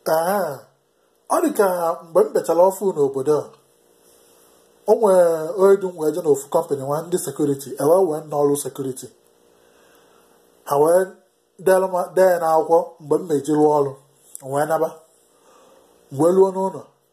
ee ọ dị ka mgbe m bịachara ọfụụ n'obodo a o nwere onye du m wee je n'ofu kọmpanị nwa ndị sekuriti e wee wee m n'ọrụ sekuriti ha wee dee m- dee ya n'akwụkwọ mgbe m meji rụọ ọrụ m wee naba m wee ruo n'ụlọ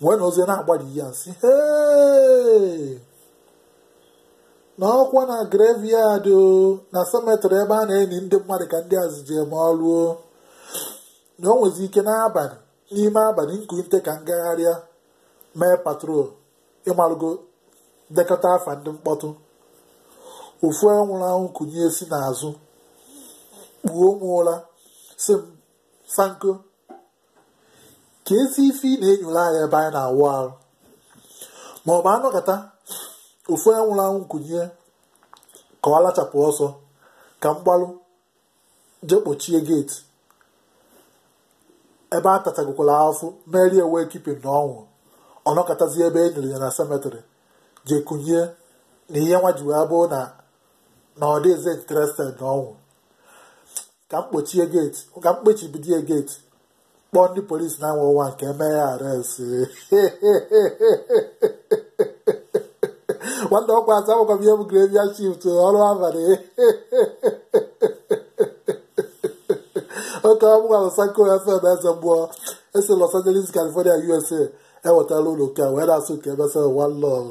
m wee nọzie na-agbali ya m sị "Hey!" na ọkwa na graveyard o na cemetery ebe a na-eni ndị mmadụ ka ndị a zi je mee ọrụ o na o nwezi ike n'abalị n'ime abalị m kunite ka m gagharịa mee patrol ị marago dekata afa ndị mkpọtụ ofu onye nwụrụ anwụ kunie si n'azụ kpuo m ụra sị m Sanko kedụzi ife ị na-enyoro anyị ebe anyị na-awụ arụ ma ọ bụ a nọkata ofu onye nwụrụ anwụ kunie ka ọ lachapụ ọsọ ka m gbalụ je kpochie geeti ebe a tachagokwara afụfụ mere ya wake keeping na ọ nwụrụ ọ nọkatazie ebe e niri ya na semetrị je kunie na ihe nwa ji wee bụ na na ọ dịrọzi interested na ọnwụ ka m kpochie geeti ka m kpochibido geeti kpọọ ndị polisi nine one one ka e mee ya arrest nwanne ọkwa aza akwụkwọ m ihe bụ graveyard shift ọrụ abalị oke ọ bụkwa Sanko FM eze mmụọ e si Los Angeles California USA ewetara unu nke a wee na-asị unu ka e mesịa one love